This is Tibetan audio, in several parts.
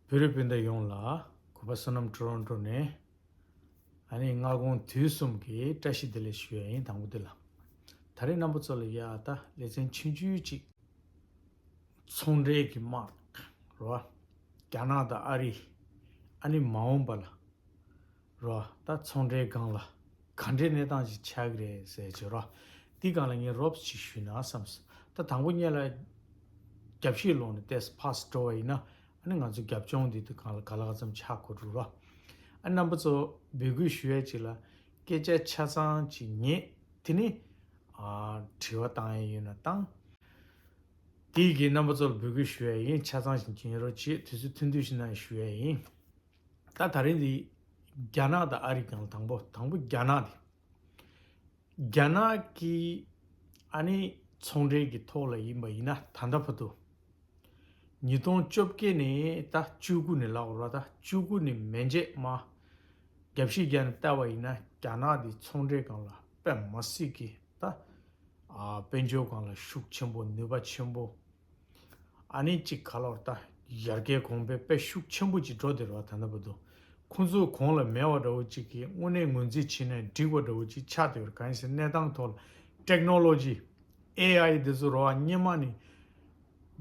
བོད་རིགས་སྤུན་ཟླ་ཡོངས་ལ་གུས་པ་བསོད་ནམས་དྲོ་རུང་དྲོ་ནས་ཨ་ནི་སྔ་དགོང་དུས་གསུམ་གྱི་བཀྲ་ཤིས་བདེ་ལེགས་ཞུ་ཡ་ཡིན་དང་པོ་འདི་ལ་ད་རེས་རྣམ་པ་ཚོ་ལ་ཡ་ད་ལེ་ཚན་ཆུང་ཆུང་ཅིག་ཚོང་འབྲེལ་གྱི་དམག་རོ་རྒྱ་ནག་དང་ཨ་རི་ཨ་ནི་མ་འོངས་པ་ལ། རོ། ད་ཚོང་འདྲའི་སྒང་ལ་ག་འདྲའི་གནས་སྟངས་ཅིག་ཆགས་ཀྱི་རེད་ཟེར་བྱས་རོ། འདི་གང་ལ་ངས་རོབ་ཅིག་ཞུས་ན་བསམས། ད་དང་པོ་གཉལ་ལ་རྒྱབ་བཤིག་སློང་ནས་ལྟས་ཕགས་འགྲོ་བ་ཡིན་ན་ཨ་ནི་ང་ཚོ་རྒྱབ་ལྗོངས་འདི་དུ་གང་ལ་ག་ལ་ག་ཙམ་ཆགས་དགོས་འགྲོ་རོ། ཨ་རྣམ་པ་ཚོ་འབོད་སྐུལ་ཞུ་ཡས་ཅིག་ལ་སྐད་ཆ་ཆ་ཚང་ཅིག་ངེད་དེ་ནི་དྲི་བ་བཏང་ཡས་ཡོད་ན་བཏང། དེ་ཡི་གེ་རྣམ་པ་ཚོ་ལ་འབོད་སྐུལ་ཞུ་ཡས་ཡིན་ཆ་ཚང་ཞིག་འབྱིན་ཡས་རོ་ཅེས་དུས་ཚོད་ཐུང་ཐུང་ཞིག་ནང་ཞུ་ཡས་ཡིན། ད་ད་རིང་འདི་རྒྱ་ནག་དང་ཨ་རིག་ཀྱང་དང་པོ་དང་པོ་རྒྱ་ནག་དེ། རྒྱ་ནག་གི་ཨ་ནི་ཚོང་འབྲེལ་གྱི་ཐོག་ལ་ཡིན་པ་ཡིན་ན་ད་ལྟ་བར་དུ། ཉིས་སྟོང་བཅོ་བརྒྱད་ནས་ད་བཅུ་དགུ་ནས་ལག་བར་ད་བཅུ་དགུ་ནས་མན་ཆད་མ། རྒྱ་བཤིས་རྒྱ་ནས་བལྟ་བ་ཡིན་ན་རྒྱ་ནག་འདི་ཚོང་འབྲེལ་གང་ལ་དཔེ་མ་སྲིད་ཀྱི་ད། དཔལ་འབྱོར་གང་ལ་ཤུགས་ཆེན་པོ་ནུས་པ་ཆེན་པོ། ཨ་ནེ་གཅིག་ག་ལོར་ལྟ། ཡར་གའི་གོང་པའི་དཔེ་ཤུགས་ཆེན་པོ་གཅིག་གྲོ་དེར་བ་ད་ན་བ་འདུག་ཁོ་ཚོའི་གོང་ལ་མེ་བ་འདྲ་བོ་གཅིག་གིས་དངོས་གནས་ངོས་འཛིན་བྱེད་ནས་འགྲིག་བ་འདྲ་བོ་གཅིག་ཆགས་བསྡད་པར་གང་ཡིན་ཟེར་གནས་སྟངས་ཐོག་ལ Technology། AI། དེ་ཚོ་རོ་བ་སྙེ་མ་ནི་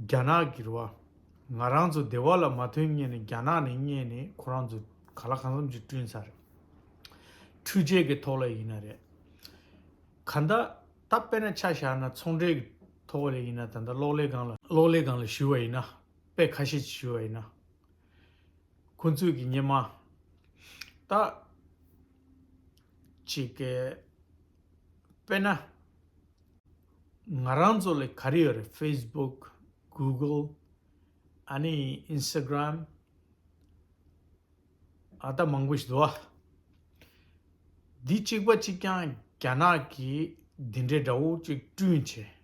རྒྱ་ནག་གི་རོ་བ། ང་རང་ཚོ་སྡེ་བ་ལ་མ་ཐོན་ངེས་ནས་རྒྱ་ནག་ནས་རྙེད་ནས་ཁོ་རང་ཚོ་ག་ལ་གང་འཚམ་ཅིག་བསྐྲུན་ཚར་རེད། འཕྲུལ་ཆས་ཀྱི་ཐོག་ལ་ཡིན་ན་རེད། ག་མདའ། ད་དཔེར་ན་ཆ་བཞག་ན་ཚོང་འབྲེལ་གྱི་ཐོག་ལས་ཡིན་ན་ད་ལྟ་གློག་ཀླད་སྒང་ལ་གློག་ཀླད་སྒང་ལ་ཞུ་བ་ཡིན་ན་དཔེ་ཁ་ཤས་ཀྱིས་ཞུ་བ་ཡིན་ན། ཁོ་ཚོས་ཀྱི་སྙེ་མ་ད་ཅིག་གེ། དཔེར་ན། ང་རང་ཚོ་ལས་ག་རེ་ཡོད་རེད facebook google ཨ་ནི instagram། ཨ་སྟག་མང་པོ་ཞིག་འདུག་ཨ། འདི་གཅིག་པ་གཅིག་ཀྱང་རྒྱ་ནག་གིས་འདི་འདྲའི་དགྲ་བོ་གཅིག་བསྐྲུན་བྱས།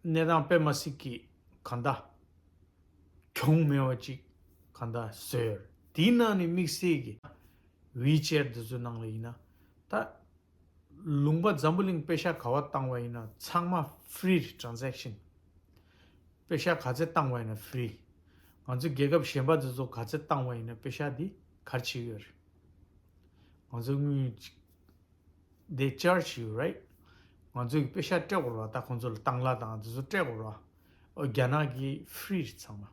གནས་སྟངས་དཔེ་མ་སྲིད་ཀྱི་གང་ལྟ། གྱོང་མེད་པ་ཅིག་གང་ལྟ་བཟོས་ཡོད་རེད། དེའི་ནང་ནས་དམིགས་བསལ་གྱི། WeChat འདི་ཚོའི་ནང་ལ་ཡིན་ན། ད། ལུང་པ་འཛམ་བུ་གླིང་དཔེ་ཤག་ག་བ་བཏང་བ་ཡིན་ན་ཚང་མ Free Transaction། དཔེ་ཤག་ག་ཚེ་བཏང་བ་ཡིན་ན Free། ང་ཚོ་རྒྱལ་ཁབ་གཞན་པ་དེ་ཚོ་ག་ཚེ་བཏང་བ་ཡིན་ན་དཔེ་ཤག་འདི་གར་བྱེད་ཀྱི་ཡོད་རེད། ང་ཚོ་དངུལ They charge you right ང་ཚོ་གི་དཔེ་ཤག་སྤྲད་དགོས་རོགས་ད་ཁོང་ཚོ་ལ་བཏང་གླ་དང་དེ་ཚོ་སྤྲད་དགོས་རོགས་ཨོ་རྒྱ་ནག་གི Free རེད་ཚང་མ།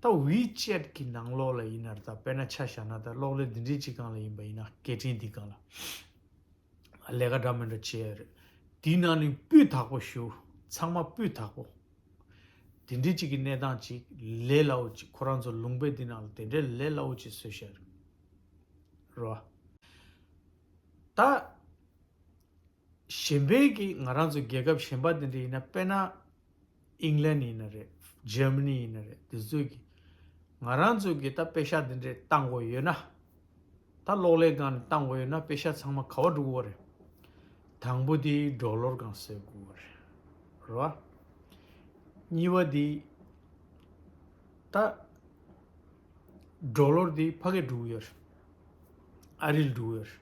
ད་བྷི་ཅེད་ཀྱི་ནང་ལོགས་ལ་ཡིན་ནར་ད་དཔེར་ན་ཆ་བཞག་ན་ད་གློག་ཀླད་འདི་འདྲའི་གཅིག་གང་ལ་ཡིན་པ་ཡིན་ན་སྐད་འཕྲིན་འདི་གང་ལ་ལས་ཀ་འདྲ་མི་འདྲ་བྱེད་ཡོད་རེད། དེའི་ནང་ནས་སྤུས་དག་པོ་ཞུ། ཚང་མ་སྤུས་དག་པོ། དེ་འདྲའི་གཅིག་གི་གནས་སྟངས་ཅིག་ལས་སླ་བོ་ཅིག་ཁོ་རང་ཚོ་ལུང་པའི་འདི་ནང་ལ་དེ་འདྲའི་ལས་སླ་བོ་ཅིག་བཟོས་བཞག་རེད། རོ། ད། གཞན་ཕན་གྱི་ང་རང་ཚོ་རྒྱལ་ཁབ་གཞན་པ་དེ་འདྲ་ཡིན་ན་དཔེར་ན། England ཡིན་ན་རེད Germany ཡིན་ན་རེད་དེ་ཚོས་ཀྱིས་ང་རང་ཚོས་ཀྱིས་ད་དཔེ་ཤག་དེ་འདྲ་བཏང་དགོས་ཡོད་ན། ད་གློག་ཀླད་སྒང་ནས་བཏང་དགོས་ཡོད་ན་དཔེ་ཤག་ཚང་མ་ག་བ་འགྲོ་དགོས་བ་རེད། དང་པོ་དེ་སྒྲོ་གློར་སྒང་བཟོས་དགོས་བ་རེད་རེད་བ། གཉིས་བ་དེ། ད། སྒྲོ་གློར་དེ་ཕ་གིར་འགྲོ་གི་ཡོད་རེད། ཨ་རིར་འགྲོ་གི་ཡོད་རེད།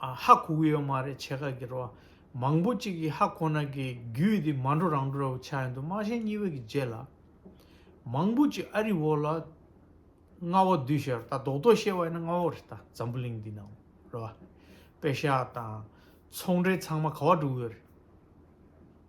ཧ་གོ་གི་ཡོད་མ་རེད་ཆེ་ཁག་གི་རོ་མང་པོ་གཅིག་གིས་ཧ་གོ་ན་གི་རྒྱུད་དེ་མ་འགྲོ་རང་འགྲོ་ར་བུ་ཆགས་ཡོད་འདུག་དམག་ཞན་གཉིས་པོ་གི་རྗེས་ལ་མང་པོ་གཅིག་ཨ་རི་བོ་ལ་རྔ་བ་བསྡུས་ཤར་ད་རྡོག་རྡོག་བཤད་བ་ཡིན་ན་རྔ་བོ་རེད་ད་འཛམ་བུ་གླིང་འདི་ནང་རོ་བ་པེ་ཤ་དང་ཚོང་འབྲེལ་ཚང་མ་ག་བ་འགྲོ་གི་ཡོད་རེད།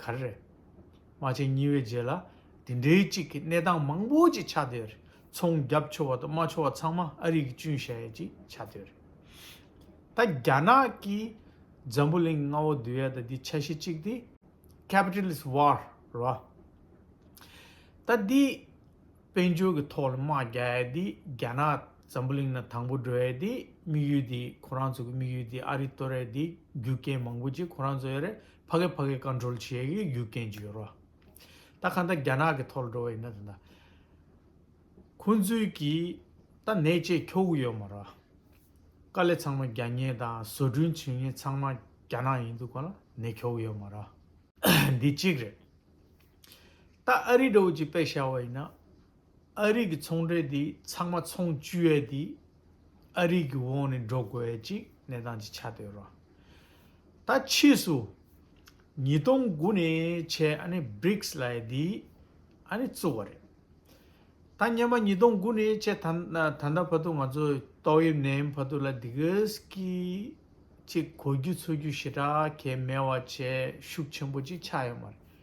ག་རེ་རེད། རྨ་བྱའི་སྙི་བའི་རྗེས་ལ་དེ་འདྲའི་གཅིག་གི་གནས་སྟངས་མང་པོ་ཅིག་ཆགས་བསྡད་རེད། ཚོང་རྒྱབ་ཆོག་བ་དང་རྨ་ཆོག་བ་ཚང་མ་ཨ་རིག་གི་ཅུན་ཞལ་ཡས་ཀྱིས་ཆགས་བསྡད་རེད། ད་རྒྱ་ནག་གིས་འཛམ་བུ་གླིང་ལྔ་བོ་འདུལ་ཡ་ད་འདི་ཆ་ཤས་གཅིག་དེ། Capitalist War། རེད། ད་འདི། དཔལ་འབྱོར་གྱི་ཐོག་ལ་དམག་རྒྱག་ཡས་དེ་རྒྱ་ནག་ཛམ་བུ་གླིང་ན་དང་པོ་འགྲོ་ཡས་དེ་དམིགས་ཡུལ་དེ་ཁོ་རང་ཚོ་གི་དམིགས་ཡུལ་དེ་ཨ་རི་གཏོར་ཡས་དེ་རྒྱུ་རྐྱེན་མང་པོ་ཅིག་ཁོ་རང་ཚོ་ཡས་རེད་ཕ་གི་ཕ་གི Control བྱེད་ཡས་ཀྱི་རྒྱུ་རྐྱེན་ཅིག་ཡོད་རོ། ད་ག་འདའ་རྒྱ་ནག་གི་ཐོག་ལ་འགྲོ་བ་ཡིན་ན་དེ་འདའ། ཁོང་ཚོས་ཀྱི་ད་ནད་ཆེད་ཁྱོ་གུ་ཡོད་མ་རོ། དཀའ་ལས་ཚང་མ་རྒྱ་ཉེན་དང་བཟོ་སྐྲུན་བྱེད་ཉེན་ཚང་མ་རྒྱ་ནག་ཡིན་འདུག་ག་ལ་ནད་ཁྱོ་གུ་ཡོད་མ་རོ། འདི་གཅིག་རེད། ད་ཨ་རིའི་དྲ་བོ་གཅིག་བེད་བཞག་བ་ཡིན་ན། ཨ་རིས་ཀྱི་ཚོང་འབྲེལ་འདི་ཚང་མ་ཚོང་བཅུད་ཡས་དེ་ཨ་རིས་ཀྱི་འོག་ནས་འགྲོ་དགོས་ཡས་ཅིག་གནས་སྟངས་ཅིག་ཆགས་བསྡད་ཡོད་ར། ད་ཕྱིས་སུ། ཉིས་སྟོང་དགུ་ནས་ཆད་ཨ་ནི Brics ལ་ཡས་དེ་ཨ་ནི་བཙུགས་བ་རེད། ད་སྙམ་པ་ཉིས་སྟོང་དགུ་ནས་ཆད་ད་ད་ལྟ་བར་དུ་ང་ཚོ་ཏོག་དབྱིབས་ནད་ཡམས་བར་དུ་ལ་དེ་ག་གི་ཅིག་གོ་རྒྱུ་འཚོལ་རྒྱུ་ཞེ་དྲག་གས་མེད་བ་བྱས་ཤུགས་ཆེན་པོ་ཅིག་ཆགས་ཡོད་མ་རེད།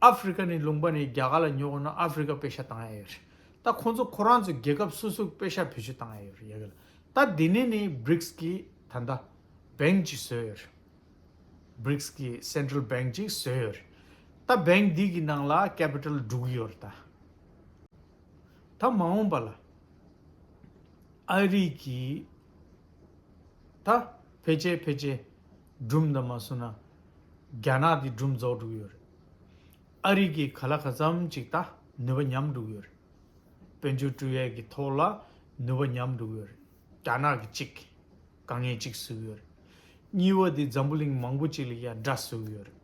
ཨ་ཧྥེ་རི་ཁ་ནས་ལུང་པ་ནས་རྒྱ་གར་ལ་ཉོ་དགོས་ན་ཨ་ཧྥེ་རི་ཁ་དཔེ་ཤ་བཏང་ཡ་ཡོད་རེད་ད་ཁོང་ཚོ་ཁོ་རང་ཚོའི་རྒྱལ་ཁབ་སོ་སོའི་དཔེ་ཤ་བེད་སྤྱོད་བཏང་ཡ་ཡོད་རེད་ཡ་གི་ལ་ད་དེ་ནས་ནི Brics གི་ད་ལྟ Bank ཅིག་བཟོས་ཡོད་རེད Brics གི Central Bank ཅིག་བཟོས་ཡོད་རེད་ད Bank དེ་གི་ནང་ལ Capital བསྒྲུགས་ཡོད་རེད་ད། ད་མ་འོངས་པ་ལ་ཨ་རིག་གི་ད་བེད་སྤྱད་བེད་སྤྱད། སྦྲུམ་འདི་མ་བསུ་ན། རྒྱ་ནག་འདི་སྦྲུམ་རྫོགས་འགྲུག་ཡོད་རེད། ཨ་རིག་གི་ག་ལ་ག་ཙམ་ཅིག་ད་ནུས་པ་ཉམས་འགྲུག་ཡོད་རེད། དཔོན་ཆུང་ཀྲུའུ་ཡས་ཀྱི་ཐོག་ལ་ནུས་པ་ཉམས་འགྲུག་ཡོད་རེད། རྒྱ་ནག་གི་གཅིག་ག་ངས་གཅིག་བཟོས་ཡོད་རེད། གཉིས་བ་འདི་འཛམ་བུ་གླིང་མང་པོ་ཅིག་ལ་ཡང་འདྲ་བཟོས་ཡོད་རེད།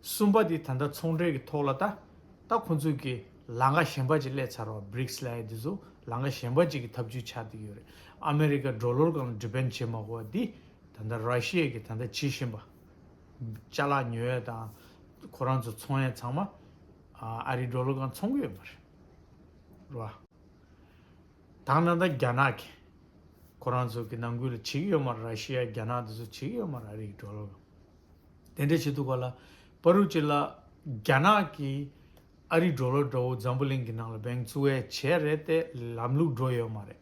གསུམ་པ་འདི་ད་ལྟ་ཚོང་འབྲེལ་གྱི་ཐོག་ལ་ད་ད་ཁོང་ཚོས་ཀྱི་ལང་ཀ་གཞན་པ་ཅིག་གླས་ཚར་བ Brics ལའེ་འདི་ཚོ་ལང་ཀ་གཞན་པ་ཅིག་གི་ཐབས་ཇུས་ཆགས་འདི་ཡོད་རེད་ཨ་མེ་རི་ཀ་འགྲོ་ལོར་གང་ལ Depend བྱེད་མ་གོ་བ་འདི་ད་ལྟ་ར་ཤི་ཡས་ཀྱི་ད་ལྟ་བྱེད་བཞིན་པ། བཅའ་ལག་ཉོ་ཡས་དང་ཁོ་རང་ཚོ་ཚོང་ཡས་ཚང་མ་ཨ་རི་འགྲོ་ལོ་གང་ཚོང་གི་ཡོད་པ་རེད། ར་དང་ད་ལྟ་རྒྱ་ནག་གི་ཁོ་རང་ཚོ་གི་ནང་ཁུལ་ལ་བྱེད་ཀྱི་ཡོད་མ་རེད་ར་ཤི་ཡ་རྒྱ་ནག་དེ་ཚོ་བྱེད་ཀྱི་ཡོད་མ་རེད་ཨ་རི་གི་འགྲོ་ལོ་གང། དེ་འདྲ་བྱེད་འདུག་པ་ལ་པ་རུ་ཅི་ལ་རྒྱ་ནག་གི་ཨ་རི་འགྲོ་ལོ་འདྲ་བོ་འཛམ་བུ་གླིང་གི་ནང་ལ་བེང་ཚུ་བས་བྱས་རེད་ཏེ་ལམ་ལུགས་འགྲོ་ཡོད་མ་རེད།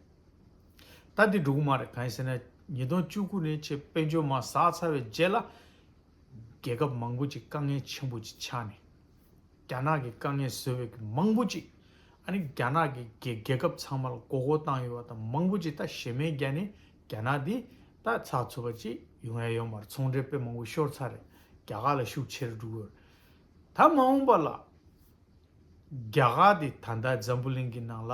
ད་དེ་འགྲོ་གི་མ་རེད་གང་ཡིན་ཟེར་ན་ཉིས་སྟོང་བཅུ་དགུ་ནས་ཆེད་དཔལ་འབྱོར་མ་ཟགས་ཚར་བའི་རྗེས་ལ། རྒྱལ་ཁབ་མང་པོ་ཅིག་དཀའ་ངལ་ཆེན་པོ་ཅིག་ཆགས་ནས། རྒྱ་ནག་གི་དཀའ་ངལ་བཟོས་བའི་གི་མང་པོ་ཅིག་ཨ་ནི་རྒྱ་ནག་གི་གི་རྒྱལ་ཁབ་ཚང་མ་ལ་མགོ་སྐོར་བཏང་ཡོད་པ་དང་མང་པོ་ཅིག་ད་གཞས་མའི་རྒྱ་ནས་རྒྱ་ནག་འདི་ད་ཚགས་ཚུད་པ་ཅིག་ཡོང་ཡ་ཡོད་མར་ཚོང་འབྲེལ་དཔེ་མང་པོ་ཤོར་ཚར་རེད་རྒྱ་གར་ལ་ཤུགས་ཆེར་འགྲོ་གི་རེད། ད་མ་འོངས་པ་ལ། རྒྱ་གར་འདི་ད་ལྟ་འཛམ་བུ་གླིང་གི་ནང་ལ།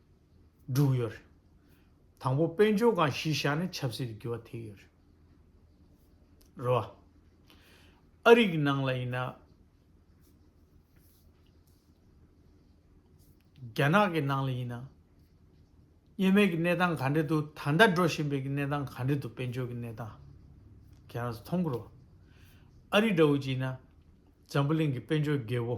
འབྲུག་ཡོད་རེད། དང་པོ་དཔལ་འབྱོར་སྒང་གཞི་བཞག་ནས་ཆབ་སྲིད་ཀྱི་འགྱུར་བ་དེ་ཡོད་རེད། རེད་བ། ཨ་རིག་གི་ནང་ལ་ཡིན་ན། རྒྱ་ནག་གི་ནང་ལ་ཡིན་ན། གཉེན་མེད་ཀྱི་གནས་སྟངས་ག་འདྲེ་འདུག་ད་ལྟ་འགྲོ་བཞིན་པའི་གནས་སྟངས་ག་འདྲེ་འདུག་དཔལ་འབྱོར་གྱི་གནས་སྟངས། ཁྱེད་རང་ཚོ་མཐོང་གི་རེད་བ། ཨ་རིག་འདྲ་བོ་ཅིག་ཡིན་ན། འཛམ་བུ་གླིང་གི་དཔལ་འབྱོར་རྒྱལ་བོ།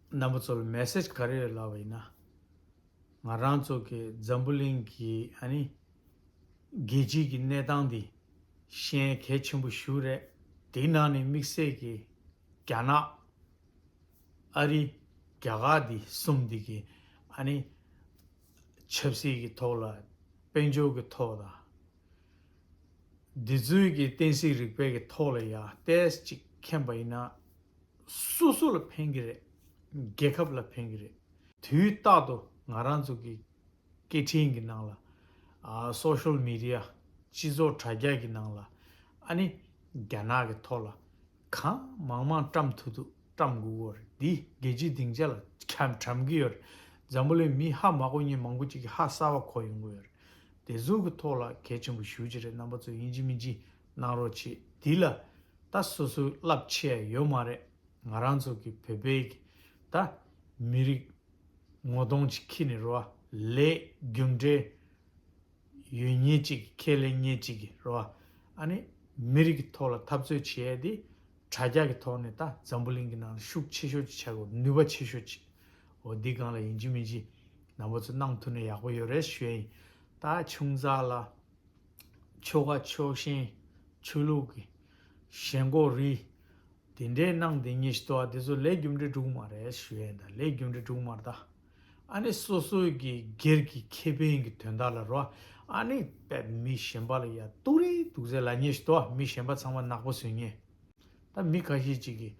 རྣམ་པ་ཚོ་ལ message ག་རེ་ཡོད་ལབ་པ་ཡིན་ན། ང་རང་ཚོ་གི་འཛམ་བུ་གླིང་གི་ཨ་ནི། རྒྱལ་སྤྱིའི་གི་གནས་སྟངས་འདི་ཤན་གལ་ཆེན་པོ་ཞུ་རེད། དེའི་ནང་ནས་དམིགས་བསལ་གི་རྒྱ་ནག། ཨ་རི། རྒྱ་གར་འདི་གསུམ་འདི་གི་ཨ་ནི། ཆབ་སྲིད་གི་ཐོག་ལ་དཔལ་འབྱོར་གི་ཐོག་ལ། འདི་ཚོའི་གི་བསྟན་སྲིད་རིག་པའི་གི་ཐོག་ལ་ཡང་ཏེས་ཅིག་མཁྱེན་པ་ཡིན་ན། སོ་སོ་ལ་ཕན་གྱི་རེད། རྒྱལ་ཁབ་ལ་ཕན་གྱི་རེད། དུས་རྟག་ཏུ་ང་རང་ཚོ་གི་སྐད་འཕྲིན་གྱི་ནང་ལ། Social Media། སྤྱི་ཚོགས་དྲ་རྒྱ་གྱི་ནང་ལ། ཨ་ནི། རྒྱ་ནག་གི་ཐོག་ལ། གང་མང་མང་བཀྲམས་ཐུབ་ཐུབ་བཀྲམས་དགོས་དགོས་རེད། འདིས་རྒྱལ་སྤྱིའི་སྡིངས་ཆ་ལ་བགྲམས་ཀྱི་ཡོད་རེད། འཛམ་བུ་གླིང་མི་ཧ་མ་གོ་གཉིས་མང་པོ་ཅིག་གིས་ཧ་གསར་བ་གོ་ཡོང་གི་ཡོད་རེད། དེ་ཚོ་གི་ཐོག་ལ་གལ་ཆེན་པོ་ཞུ་རྒྱུ་རེད་རྣམ་པ་ཚོ་ཡིན་གཅིག་མིན་གཅིག་གནང་རོགས་བྱེད་འདི་ལ་ད་སོ་སོའི་བསླབ་ཆས་ཡོད་མ་རེད་ང་རང་ཚོ་གི་བོད་པའི་གི་ད་མི་རིགས་ངོ་གདོང་ཅིག་ཁྱི་ནི་རོ་བ་ལས་རྒྱུ་འབྲས་ཡོད་ཉེས་ཅིག་གི་ཁས་ལེན་ཉེས་ཅིག་གི་རོ་བ་ཨ་ནི་མི་རིགས་གི་ཐོག་ལ་འཐབ་རྩོད་བྱས་ཡས་དེ་དྲ་རྒྱ་གི་ཐོག་ནས་ད་འཛམ་བུ་གླིང་གི་ནང་ལ་ཤུགས་ཆེ་ཤོས་ཅིག་ཆགས་དགོས་ནུས་པ་ཆེ་ཤོས་ཅིག་འོ་འདི་གང་ལ་ཡིན་གྱི་མིན་གྱི་ནང་པ་ཚོ་གནང་ཐུབ་ན་ཡག་པོ་ཡོད་རེད་ཞུས་ཡིན་ད་ཆུང་ཙག་ལ། ཆོ་ག་ཆོས་ཞེན་ཆོས་ལུགས་ཀྱི། ཞེན་ལྐོག་རིས། དེ་འདྲའི་སྣང་དེ་ཉིད་ཞེས་བཏགས་པ་དེ་ཚོ་ལས་རྒྱུ་འབྲས་དྲུག་མ་རེད་ཞུ་ཡས་འདའ་ལས་རྒྱུ་འབྲས་དྲུག་མར་འདའ། ཨ་ནི་སོ་སོའི་གི་སྒེར་གྱི་ཁེ་ཕན་གྱི་དོན་དག་ལ་རོ་ཨ་ནི་བེད་མི་ཞེན་པ་ལ་ཡ་ཏུ་རི་དུག་ཟས་ལ་ཉེས་ཞེས་བཏགས་པ་མི་ཞེན་པ་ཚང་མ་ནག་པོ་བཟོས་ཉེས། ད་མི་ཁ་ཤས་ཅིག་གིས་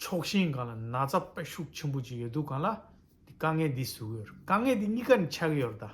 ཕྱོགས་ཞེན་གང་ལ་ན་ཚ་དཔེ་ཤུགས་ཆེན་པོ་ཅིག་ཡོད་འདུག་གང་ལ་དེ་དཀའ་ངལ་འདི་བཟོ་གི་ཡོད་རེད་དཀའ་ངལ་འདི་གཉིས་ཀ་ནི་ཆགས་ཀྱི་ཡོད་རེད་ད།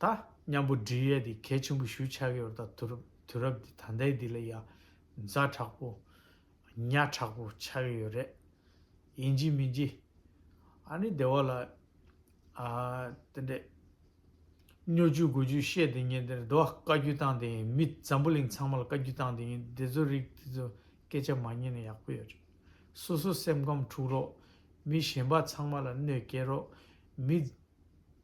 ད། མཉམ་པོ་འབྲི་ཡས་འདི་གལ་ཆེན་པོ་ཞུ་ཆགས་ཡོད་ད་དུ་རུ་དུས་རབས་འདི་ད་ལྟའི་འདི་ལ་ཡང་མཛའ་དྲག་པོ། གཉའ་དྲག་པོ་ཆགས་ཀྱི་ཡོད་རེད། ཡིན་གྱི་མིན་གྱི། ཨ་ནི་སྡེ་བ་ལ། ཨ། དེ་འདྲས། སྨྱོ་རྒྱུ་རྒོད་རྒྱུ་བཤད་དེ་ཉན་དེ་རེད་དོ་བཀའ་རྒྱུད་བཏང་དེ་ཡིན་མི་འཛམ་བུ་གླིང་ཚང་མ་ལ་བཀའ་རྒྱུད་བཏང་དེ་ཡིན་འདི་ཚོ་རིགས་འདི་ཚོ་སྐད་ཆ་མ་ཉན་ན་ཡག་པོ་ཡོད་རེད། སོ་སོ་སེམས་ཁམས་འཁྲུག་རོགས། མི་གཞན་པ་ཚང་མ་ལ་གནོད་སྐྱེལ་རོགས། མི།